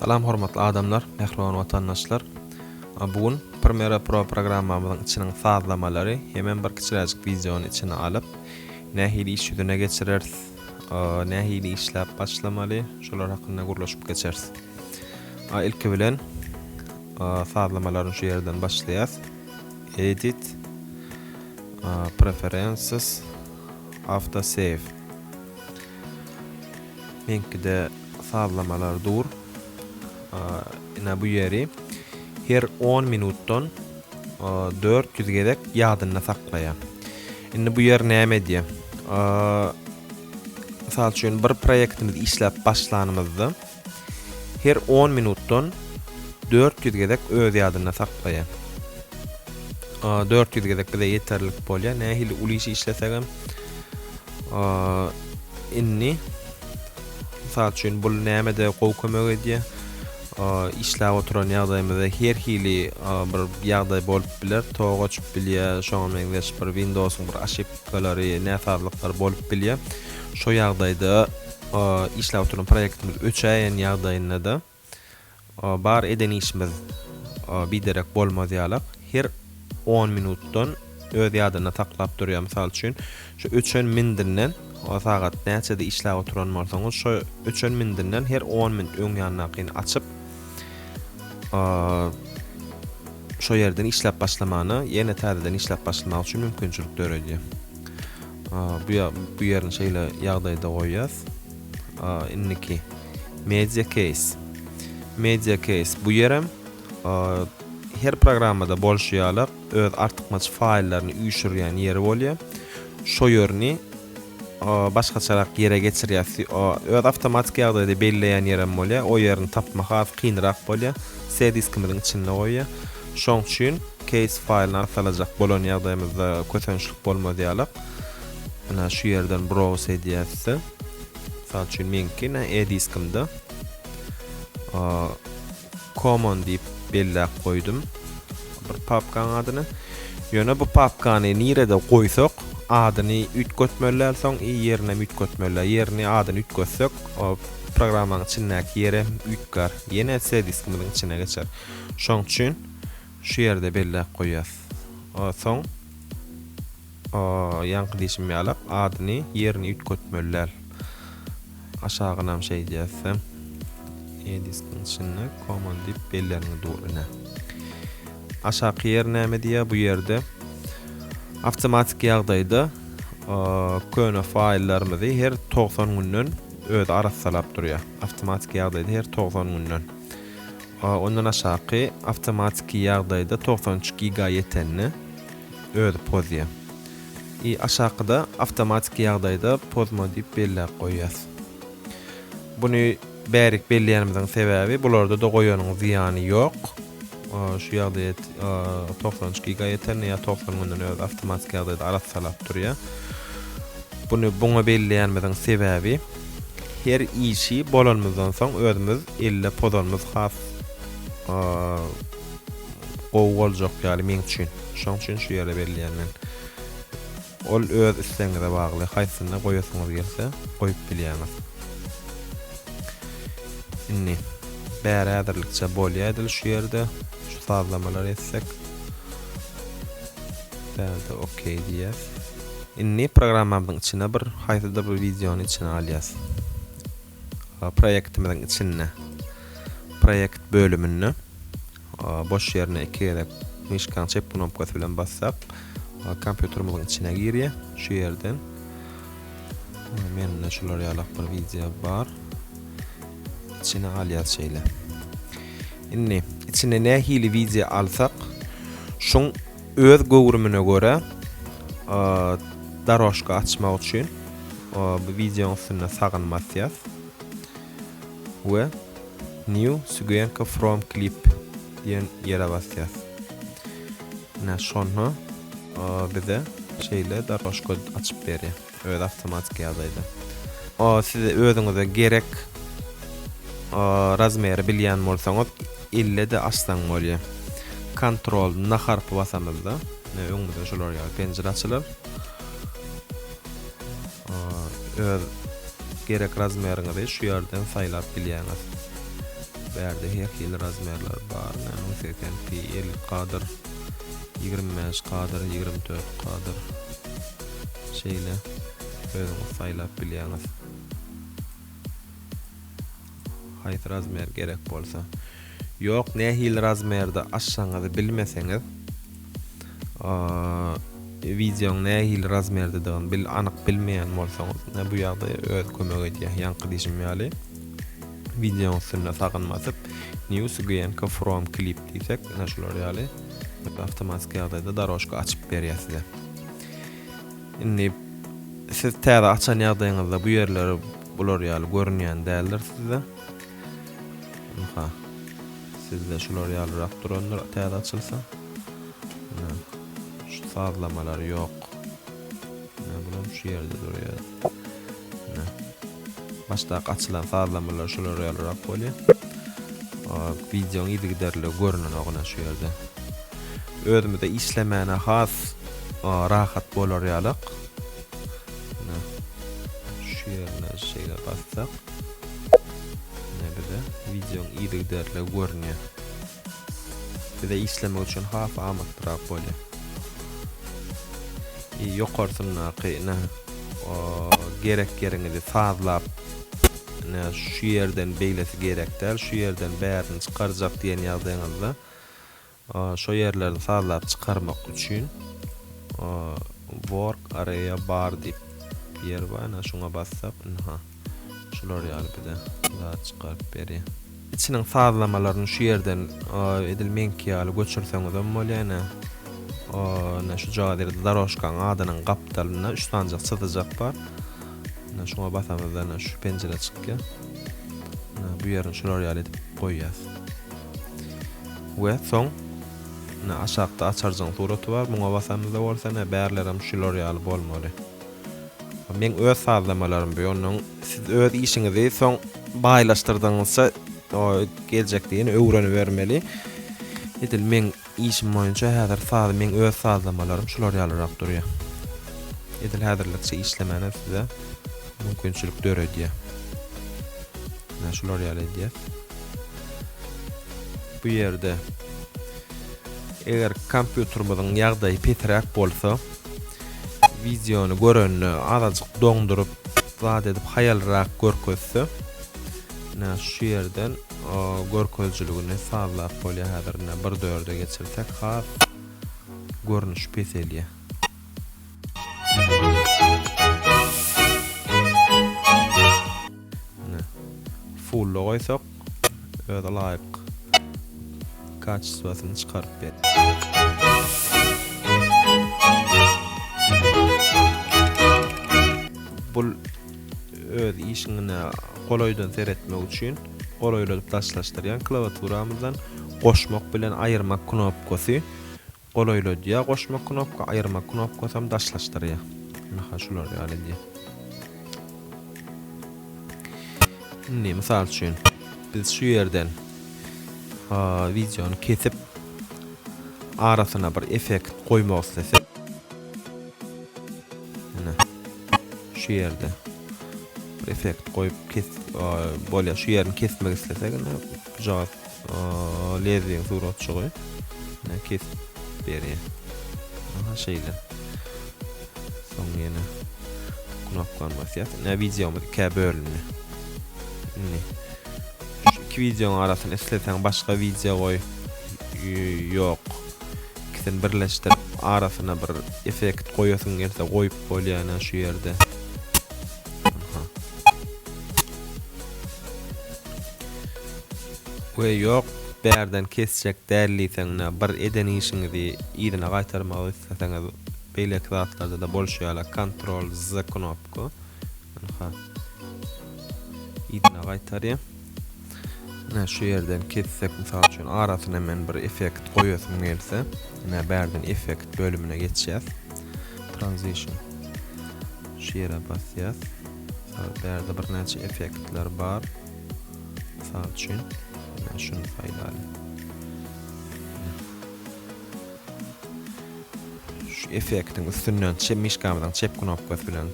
Salam hormatly adamlar, mähriban watandaşlar! Bu gün Premiere Pro programmamyzyň içiniň sazlamalary hemem bir kiçiräjik wideony içine alyp, nähili iş ýüzüne geçireris, nähili işläp başlamaly, şolar hakynda gürleşip geçeris. Ilki bilen sazlamalaryny şu ýerden başlaýas. Edit, Preferences, Auto Save. Meňkide sazlamalar dur. Ina bu ýeri her on minutdan dört ýüz gezek ýadynda saklaýar. Indi bu ýer näme edýär? Mysal üçin bir proýektimizi işläp başlanymyzda her on minutdan dört ýüz gezek öz ýadynda saklaýar. Dört ýüz gezek bize ýeterlik bolýar. Nähili uly iş işlesegem Indi mysal üçin bul nämede gowy kömek edýär? Işläp oturan ýagdaýymyzda her hili bir ýagdaý bolup biler. Tok açyp bilýär, şoňa meňzeş bir Windows-yň bir aşypkalary, näsazlyklary bolup bilýär. Şo ýagdaýda işläp oturan proýektimiz öçäýen ýagdaýynda-da Bar eden işimiz biderek bolmaz ýalak. Her on minutdan öz ýadynda saklap durýar. Mysal üçin, şu öçen mindinden sagat näçede işläp oturan bolsaňyz, şo öçen mindinden her on minut öň ýandakyny açyp, şo ýerden işläp başlamana, ýene täzeden işläp başlamak üçin mümkinçilik döredýär. Bu ýerini şeýle ýagdaýda goýýas. Indiki Media Case. Media Case bu ýerem her programmada bolşy ýaly öz artykmaç faýllaryny üýşürýän ýeri bolýar. Şo ýerini başgaçarak ýere geçirýär. Öz awtomatik ýagdaýda belleýän ýerem bolýar. O ýerini tapmak has kynrak bolýar. C diskimiziň içinde goýýar. Şoň üçin case faýlyny arsalajak bolan ýagdaýymyzda kösençlik bolmaz ýaly. Ana şu ýerden browse edýäs. Mysal üçin meňki ne E diskimde Common diýip belläp goýdum bir papkaň adyny. Ýöne bu papkany nirede goýsak, adyny üýtgetmeli, soň i ýerini hem üýtgetmeli. Ýerini, adyny üýtgetsek, o programmanyň içindäki ýeri hem üýtgär. Ýene C diskimiziň içine geçer. Şoň üçin şu ýerde belläp goýýas. Soň O, ýaňky diýşim ýalak, adyny, ýerini üýtgetmeli däl. Aşagynam şeýdýäs sen. Ediston içinde common diýip belläniňi dur ine. Aşaky ýer näme diýýär bu ýerde? Awtomatik ýagdaýda köne faýllarymyzy her 90 günden özi arassalap durýar. Awtomatik ýagdaýda her 90 günden. Ondan aşaky awtomatiki ýagdaýda 93 giga ýetende Özi pozýa. I aşakyda awtomatiki ýagdaýda pozma diýip belläp goýýas. Buny bärik belleýänimiziň sebäbi bularda-da goýanyň zyýany ýok. Şu ýagdaýa togsan üç giga ýetende ýa togsan günden özi awtomatiki ýagdaýda arassalap durýa. Buny buňa belleýänimiziň sebäbi her işi bolanymyzdan soň özümiz elle pozanymyz has gowy boljak ýaly meň üçin. Şoň üçin şu ýere belleýän men. Ol öz islegiňize bagly. Haýsysyna goýasyňyz gelse, goýup bilýäňiz. Indi bäri häzirlikçe bolýaýdyl şu ýerde. Şu sazlamalary etsek. Bärde OK diýýäs. Indi programmamyzyň içine bir haýsydyr bir wideony içine alýas. Proýektimiziň içinde Proýekt bölüminde boş ýerine iki gezek myşkaň çep knopkasy bilen bassak, kompýuterimiziň içine girýär. Şu ýerden mende şular ýalak bir wideo bar. İçine alýas şeýle. Indi içine nähili wideo alsak, şuň Öz göwrümine görä darožka açmak üçin bu wideoň üstünde sagyny basýas we New Sugenka from Clip diýen ýere basýas. Ine şonda bize şeýle darožka açyp berýär. Özi awtomatik ýagdaýda. O siz özüňize gerek razmeri bilýän bolsaňyz ille de açsaň bolýar. Ctrl na harpy basamyzda ne öňümizde şolar ýaly penjire açylar. Öz gerek razmeriňizi şu ýerden saýlap bilýäňiz. Bu ýerde her hili razmerler bar. Näme 80 pi 50 kadr 25 kadr 24 kadr Şeýle özüňiz saýlap bilýäňiz. Haýsy razmer gerek bolsa. Ýok nähili razmerde açjagyňyzy bilmeseňiz wideoň nähili razmerdedigini bil anyk bilmeýän bolsaňyz ne bu ýagda öz kömek edýär ýaňky diýşim ýaly wideoň üstünde sagyn basyp new sgynka from clip diýsek ene şular ýaly awtomatiki ýagdaýda daroşka açyp berýär size Indi siz täze açan ýagdaýyňyzda bu ýerler bular ýaly görünýän däldir sizde. Ynha. Sizde şular ýalyrak durandyr täze açylsa. Şu sazlamalar ýok. Ne bular şu ýerde durýar. Başdaky açylan sazlamalar şulara ýalyrak bolýar. Wideoň yzygiderli görünenoguna şu ýerde. Özümize işlemäne has rahat bolar ýalyk. Şu ýerine şeýle bassak. Ne bize wideoň yzygiderli görünýär. Bize işlemek üçin has amatlyrak bolýar. E, ýokarsyndaky ine gerek ýeriňizi sazlap ine şu ýerden beýlesi gerek däl, şu ýerden bärini çykarjak diýen ýagdaýyňyzda şo ýerlerini sazlap çykarmak üçin work area bar diýip ýer bar, ine şuňa bassak, ine Şular ýaly bize zat çykaryp berýär. Içiniň sazlamalaryny şu ýerden edil meňki ýaly göçürseňizem bolýar ine. Ine şujagaz ýerde darožkanyň adynyň gapdalynda üç sanjak çyzyjak bar. Ine şuňa basamyzda ine şu penjire çykýar. Ine bu ýerini şular ýaly edip goýýas. We soň ine aşakda açarjyň suraty bar. Muňa basamyzda bolsa ine bärlerem şular ýaly bolmaly. Meň öz sazlamalarym bu ýonuň siz öz işiňizi soň baýlaşdyrdygyňyzça geljekde ýene öwrenibermeli. Edil meň işim boýunça häzir saz meň öz sazlamalarym şular ýalyrak durýar. Edil häzirlikçe işlemänem size mümkinçilik döredýär. Näme şular ýaly edýär. Bu ýerde eger kompýuterimiziň ýagdaýy pesiräk bolsa, Wideony görende azajyk doňduryp zat edip haýalrak görkezse. Ine şu ýerden görkezijiligini sazlap bolýar häzir ine 1 dörde geçirsek has görnüş peselýär. Ine fulla goýsak. öz laýyk kaçestwasyny çykaryp bul öz işiňne golaýdan seretmek üçin golaýladyp daşlaşdyrýan klawiaturamyzdan goşmak bilen aýyrmak knopkasy Golaýladýar goşma knopka aýyrma knopkasam daşlaşdyrýar. Ine ha şular ýaly edýär. Indi mysal üçin biz şu ýerden ha wideony kesip arasyna bir effekt goýmak islesek. Ine şu ýerde effekt goýup kes bolýar. Şu ýerini kesmek islesek ine bu jogap Lezbiýan suratçygy. Ne kes beri. Aha şeýle. Soň ýene knopkan basýar. Ne videomyz ikä bölündi. Indi şu iki videoň arasyny isleseň başga video goý. Ýok. Ikisini birleşdirip arasyna bir effekt goýasyň gelse goýup bolýar şu ýerde. We ýok bärden kesjek däl diýseňne bir eden işiňizi yzyna gaýtarmak isleseňiz beýleki zatlardada bolşy ýaly kontrol z knopka ynha yzyna gaýtarýa ine şu ýerden kessek mysal üçin arasyna men bir effekt goýasym gelse ine bärden effekt bölümine geçýäs transition şu ýere basýas Bärde birnäçe effektler bar. Mysal üçin, şuny saýlaýyn. Şu effektiň üstünden çep mişgamyzyň çep knopkasy bilen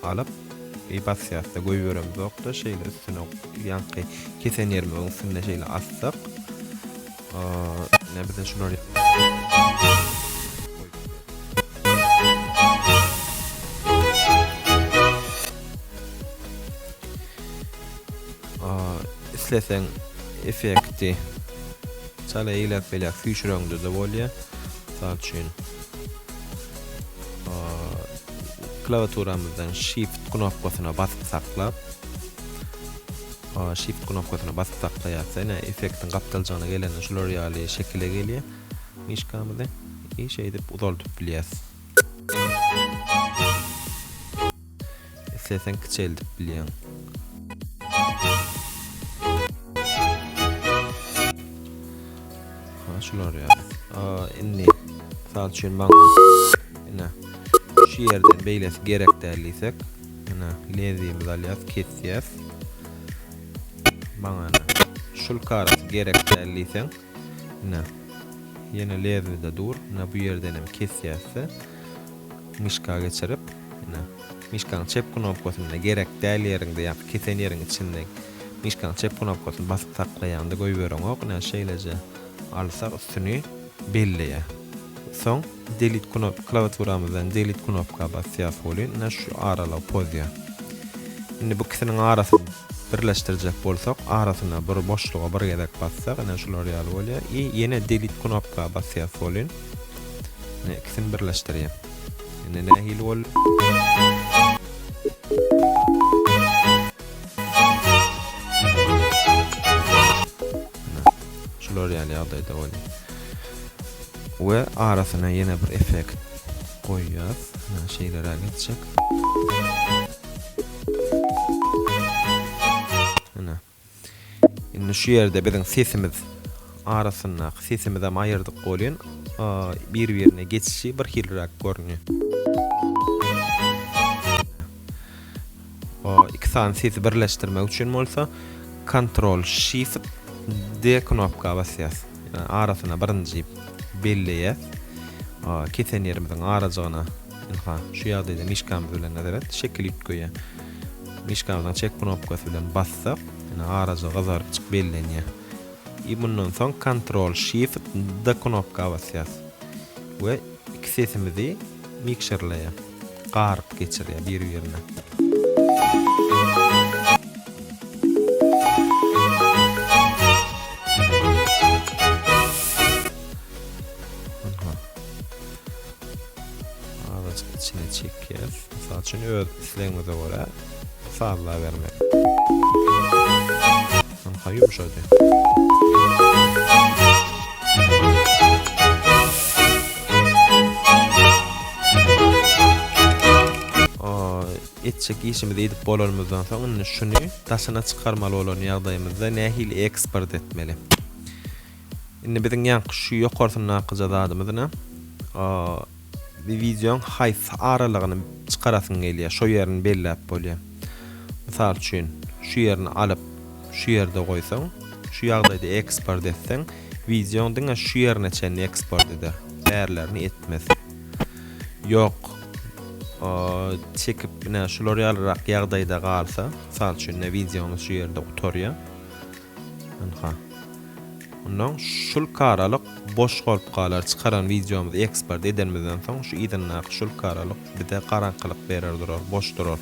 alyp i basýasda goýberemizokda şeýle üstüne ýaňky kesen ýerimiň üstünde şeýle assak Ine bizden şular isleseň effekti çala eýläp belä füýşüreňde de bolýar. Mysal üçin klawiaturamyzdan shift knopkasyna basyp saklap Shift knopkasyna basyp saklaýarys. Ine, effektiň gapdaljygyna gelende şular ýaly şekile gelýär. Myşkamyzy i şeýdip uzaldyp bilýäris. Isleseň kiçeldip bilýäň. Ha, şular ýaly. A, indi mysal üçin maňa ine şu ýerden beýlesi gerek däl diýsek, Ene lezimizi alýas kesýäs. Maňa ene şulka arasy gerek däl diýseň ene ýene lezimizde dur. Ene bu ýerden hem kesýäsde myşka geçirip ene myşkaň çep knopkasyny gerek däl ýeriňde ýa-da kesen ýeriň içinde myşkaň çep knopkasyny basyp saklaýaňda goýbereňok. Ene şeýleje alsak üstüni. belleýär. Soň Delete knop klawiaturamyzdan Delete knopka basýas welin ine şu aralygy pozýar. Indi bu ikisiniň arasyny birleşdirjek bolsak arasyna bir boşluga bir gezek bassak ine şular ýaly bolýar i ýene Delete knopka basýas welin ine ikisini birleşdirýär. Indi nähili boldy? Ana, şular ýaly ýagdaýda bolýar. We arasyna ýene bir effekt goýýas. Ana, şeýleräk etjek. Ana. Indi şu ýerde biziň sesimiz arasyndaky sesimiz hem aýyrdyk bolýan. Bir-birine geçişi bir hilräk görünýär. Iki sany sesi birleşdirmek üçin bolsa Ctrl Shift D knopka basýas. Ýa arasyna birinji belleýäs. Kesen ýerimiziň arajygyna ynha şu ýagdaýda mişkamyz bilen nazaret şekil üýtgeýär. Mişkamyzyň çek knopkasy bilen bassak, ýa arajygy gyzarykjyk bellenýär. I mundan soň Ctrl Shift D knopka basýas. We Iki sesimizi mikserleýär. Garyp geçirýär bir-birine. Azajyk içine çekýär. Mysal üçin öz islegiňize görä sazlabermek. Ynha ýumşady. etjek işimizi edip bolanymyzdan soň indi şuny daşyna çykarmaly bolan ýagdaýymyzda nähili eksport etmeli? Indi biziň ýaňky şu ýokarsyndaky zadymyz ne? Bir wideoň haýsy aralygyny çykarasyň gelýär, şo ýerini belläp bolýar. Mysal üçin, şu ýerini alyp, şu ýerde goýsaň, şu ýagdaýda eksport etseň, wideoň diňe şu ýerine çenli eksport eder, bärilerini etmez. Ýok, çekip ine şular ýalyrak ýagdaýda galsa, mysal üçin, ine wideomyz şu ýerde gutarýar. Ynha. Ondan şulka aralyk boş bolup galar çykaran wideomyzy eksport edenimizden soň şu yzyndaky şulka aralyk bize garaňkylyk berer durar boş durar.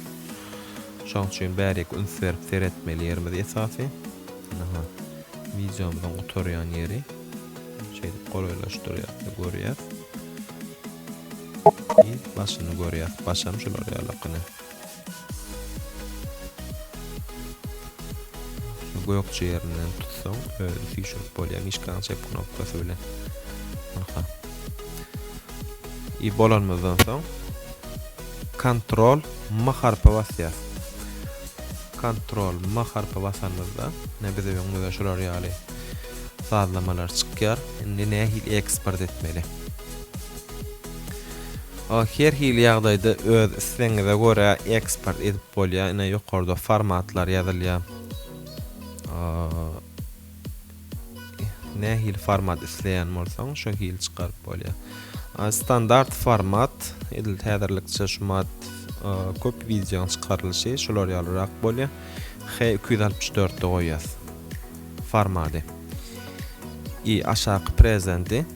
Şoň üçin bäriki üns berip seretmeli ýerimiz esasy. Ynha. Wideomyzyň gutarýan ýeri. Şeýdip golaýlaşdyrýas we görýäs. Biz başyny görýäs. Başam şular ýaly gyny. Gökje ýerinden tutsaň özi süýşürip bolýar myşkaň çep knopkasy bilen. Aha. I bolanymyzdan soň kontrol M harpy basýas. Kontrol M harpy basanymyzda ne bize öňümizde şular ýaly sazlamalar çykýar. Indi nähili eksport etmeli? Ol her hili ýagdaýda öz islegiňize görä eksport edip bolýar. Ine ýokarda formatlar ýazylýar. Nähili format isleýän bolsaň, şo hili çykaryp bolýar. Standart format edil täzirlikçe şu mat köp wideoň çykarylyşy şular ýalyrak bolýar. H264-de goýýas. Formady. I aşaky prezendi.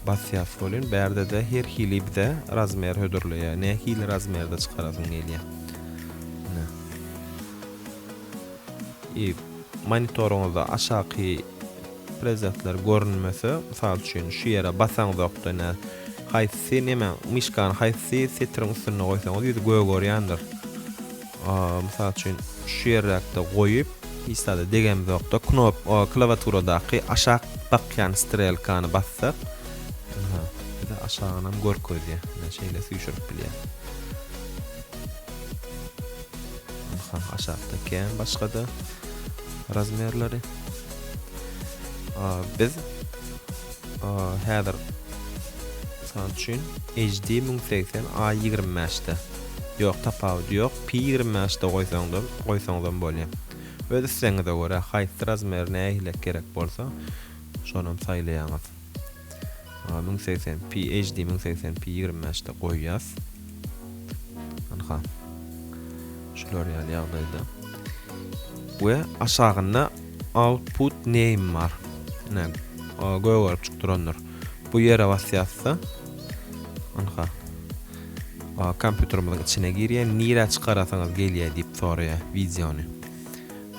Basýas welin bärde-de her hili bize razmer hödürleýär. Nähili razmerde çykarasyň gelýär. Ine. I monitoryňyzda aşaky prezentler görünmese, mysal üçin şu ýere basaňyzokda ine haýsy neme myşkany haýsy setiriň üstünde goýsaňyz ýüzi gögerýändir. Mysal üçin, şu ýerdäkde goýup, hiç zada degemzokda, knop, o klawiaturadaky aşak bakýan strelkany bassak, ynha, bize aşagynam görkezýär. Ynha, şeýle süýşürip bilýäs. Ynha, aşakda kän başga-da razmerleri. Biz häzir, mysal üçin, HD müň segsen A ýigrimi bäşde. Ýok tapawudy ýok pi ýigrimi bäş de goýsaňdam goýsaňzam bolýa öz islegiňize görä haýsy razmer nähilek gerek bolsa şonam saýlaýaňyz maňa müň segsen pi HD müň segsen pi ýigrimi bäş de goýýas ynha şular ýaly ýagdaýda we aşagynda output name bar ine gögerip çyk durandyr bu ýere basýasda ynha Kompýuterimiziň içine girýär, nirä çykarasaňyz gelýär diýip soraýar wideony.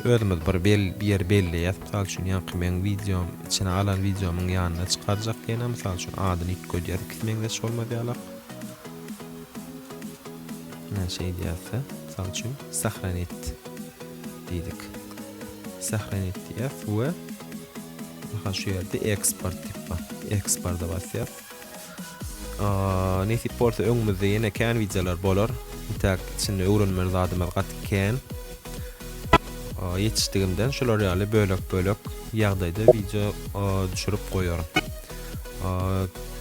Özümiz bir ýer belleýäs, mysal üçin, ýaňky meň wideom, içine alan wideomyň ýanyna çykarjak ýene, mysal üçin, adyny üýtgedýär, ikisi meňzeş bolmaz ýalak. Ine, şeýle ýazsa, mysal üçin, sahranit diýdik. Sahranit diýýäs we şu ýerde eksport diýip bar. Eksporta basýas. Nesip bolsa öňümizde ýene kän wideolar bolar. Intäk içinde öwrenmeli zadymyz gaty kän. Ýetişdigimden şular ýaly bölek-bölek ýagdaýda wideo düşürip goýaryn.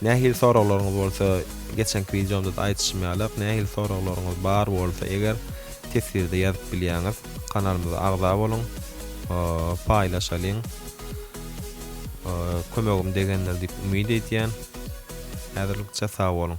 Nähili soraglaryňyz bolsa, geçenki wideomda da aýdyşym ýaly, nähili soraglaryňyz bar bolsa, eger teswirde ýazyp bilýäňiz, kanalymyza agza boluň, paýlaşalyň. kömegim degendir diýip umyt edýän. Häzirlikçe sag boluň.